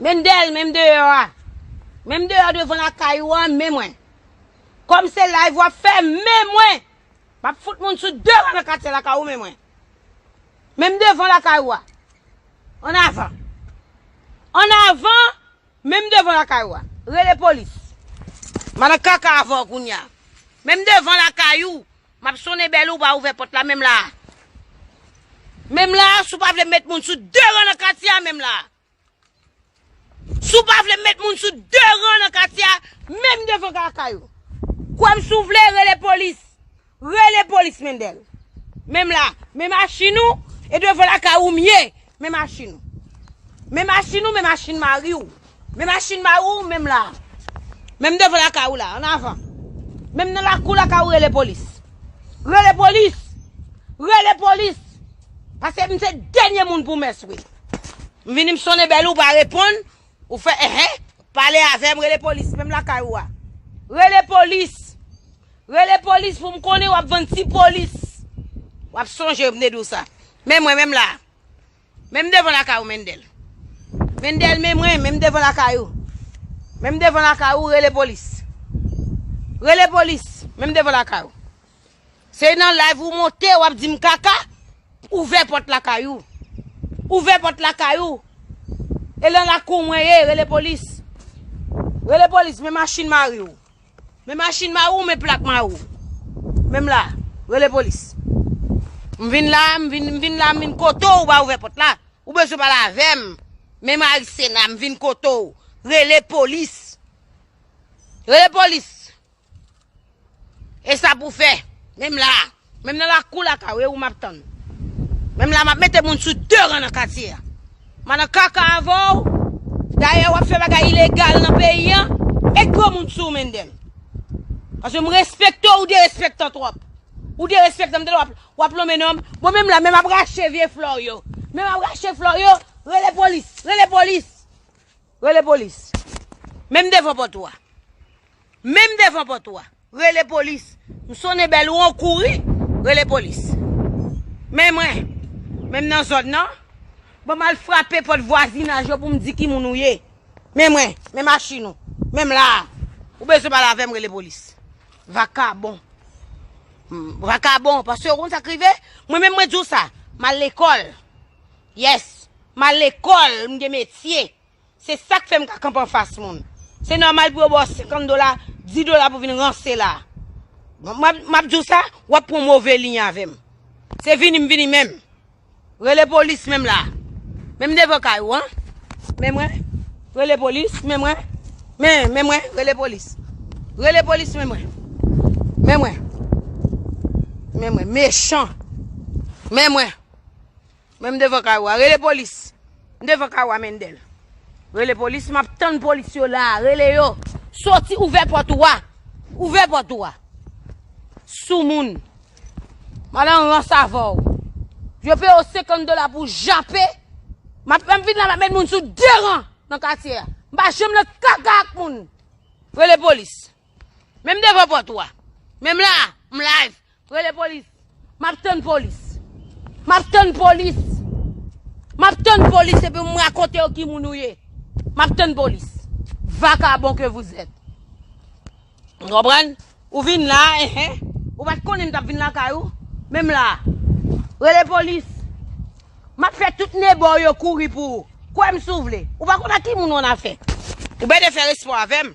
Menm dèyèl, menm deyò a. Menm deyò devan la kay ou an, men mwen. Kòm se live wap fè, men mwen. Map fout moun sou de ran nan katye la kay ou, men mwen. Menm devan la kay ou a. An avan. An avan. Menm devan lakay ou a. Rele polis. M pa nan kaka avè w kounye a. Menm devan lakay ou. M ap sonnen bèl ou, ou pa ouvè pòt la menm la a. Menm la a, si w pa vle m met moun sou de ran nan katye a menm la a. Si w pa vle m met moun sou de ran nan katye a, menm devan lakay ou. Kwè m si w vle, rele polis. Rele polis mendel. Menm la. Men machin ou e devan lakay ou mye. Men machin ou. Men machin ou men machin mari ou. Men machin mari ou menm la. Menm devan lakay ou la. An avan. Menm nan lakou lakay ou rele polis. Rele polis. Rele polis. Pase m se denye moun pou mès wi. M vini m sonnen bel ou pa reponn. Ou fè enh pale avèm rele polis menm lakay ou a. Rele polis Rele polis pou m konnen wap vann ti polis. Wap sonje m te di w sa. Men mwen menm la. Menm devan lakay ou Mendel. Mendel men mwen menm devan lakay ou. Menm devan lakay ou rele polis. Rele polis menm devan lakay ou. Se nan live ou monte wap dim kaka? Ouvè pòt lakay ou. Ouvè pòt lakay ou. E lan lakou mwen ye, rele polis. Rele polis, men machin mari ou. Men machin mari ou, men plak mari ou. Menm la, rele polis. M vin la, m vin, m vin la, m vin kote ou ba ouvè pòt la. Ou bezwen pale avè m. Men mari Sena, m vin kote ou. Rele polis. Rele polis. Esa pou fè. Menm la. Menm nan lakou laka ou e ou map tann. Menm la map mete moun sou de ran nan katye a. Ma nan kaka avè ou. Dayè wap fè bagay ilegal nan peyi an. Met gwo moun sou ou Mendel. Paske m respekte ou derespektan twòp. Ou derespektan mtande wap wap lonmen nonm. Bon menm la menm ap rache vye flè w yo. Menm ap rache flè w yo. Rele polis. Rele polis. Rele polis. Menm devan pòt ou a. Menm devan pòt ou a. Rele polis. M sonnen bèl ou an kouri. Rele polis. Men mwen. Menm nan zòn nan. Bon m al frape pòt vwazinaj yo pou m di ki moun ou ye. Men mwen. Men machin ou. Menm la a. Ou bezwen pale avè m rele polis. Vakabon. Vakabon. Paske ou konn sa k rive. Mwen menm mwen di w sa. M al lekòl. Yes! M al lekòl, m gen metye. Se sa k fè m ka kanpe anfas moun. Se nòmal pou yo ba w senkant dola, dis dola pou w vin ranse la a. M ap di w sa, w ap pran move liy avè m. Se vini m vini menm. Rele polis menm la a. Menm devan kay ou an. Men mwen, rele polis, men mwen. Men, men mwen, rele polis. Rele polis men mwen. Men mwen. Men mwen, mechan. Men mwen. Mwen m devan kay ou a rele polis. M devan kay ou a Mendel. Rele polis map tann polis yo la rele yo. Soti ouvè pòt ou a. Ouvè pòt ou a. Soumoun. Mal an rans avè ou. Yo peye ou 50 dola pou jape. Map map vin la map met moun sou deran nan katye a. M pa janm nan kaka ak moun. Rele polis. Menm devan pòt ou a. Menm la a. M live. Rele polis. Map tann polis. Map tann polis. Map tann polis epi m rakonte yo ki moun ou ye. Map tann polis. Vakabon ke vous êtes. M konprann. Ou vin la, ehe. Ou pat konnen m tap vin lakay ou. Men m la. Rele polis. Map fè tout nebo ou yo kouri pou ou. Kwè m si w vle. Ou pa konn ak ki moun ou annafè. Ou bède fè respè avè m.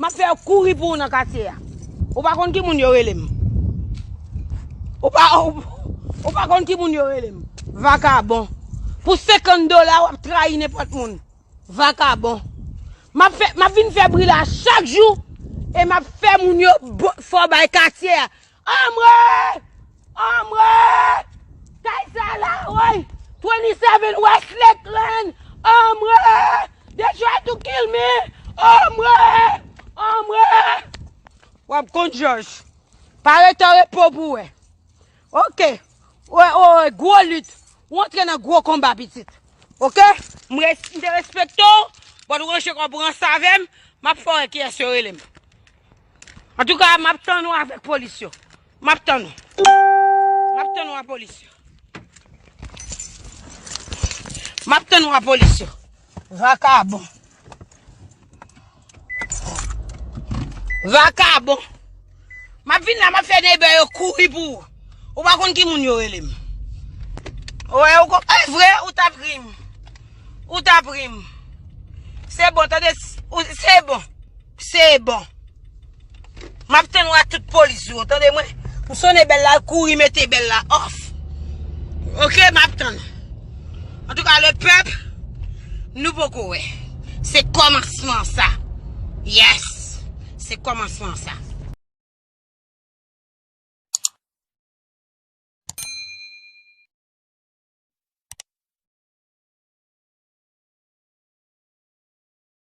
Map fè yo kouri pou ou nan katye a. Ou pa konn ki moun yo rele m. Ou pa, ou pa konn ki moun yo rele m. Vakabon. Pou 50 dola wap trayi nenpòt moun. Vakabon. Map fè, map vin fè bri la chak jou. E map fè moun yo fò bay katye a. Anmwee! Anmwee! Kay sa la woy! 27 West Lakeland! Anmwee! They try to kill me! Anmwee! Anmwee! Wap konn jòj. Pa rete an repo pou wè. Ok. Wè, wè, wè, gwo lit. Ou antre nan gwo konba, pitit. Ok? M res- m te respekte w, but ranje kò pran sa avè m, map fè wè kiyès yo rele m. Antouka map tann ou avèk polis yo. Map tann ou. Map tann ou a polis yo. Map tann ou a polis yo. Vakabon. Vakabon. Map vin la map fè nebe yo kouri pou ou. Ou pa konn ki moun yo relem. Ou e ou kon. E vre ou tap rim. Ou tap rim. Se bon tande. Se bon. Se bon. Map tann ou ak tout polis ou yo tande mwen. M sone bel la l kouri mete bel la off. Ok map tann ou. En tout cas le peuple nou poko wè. Se komansman sa. Yes. Se komansman sa.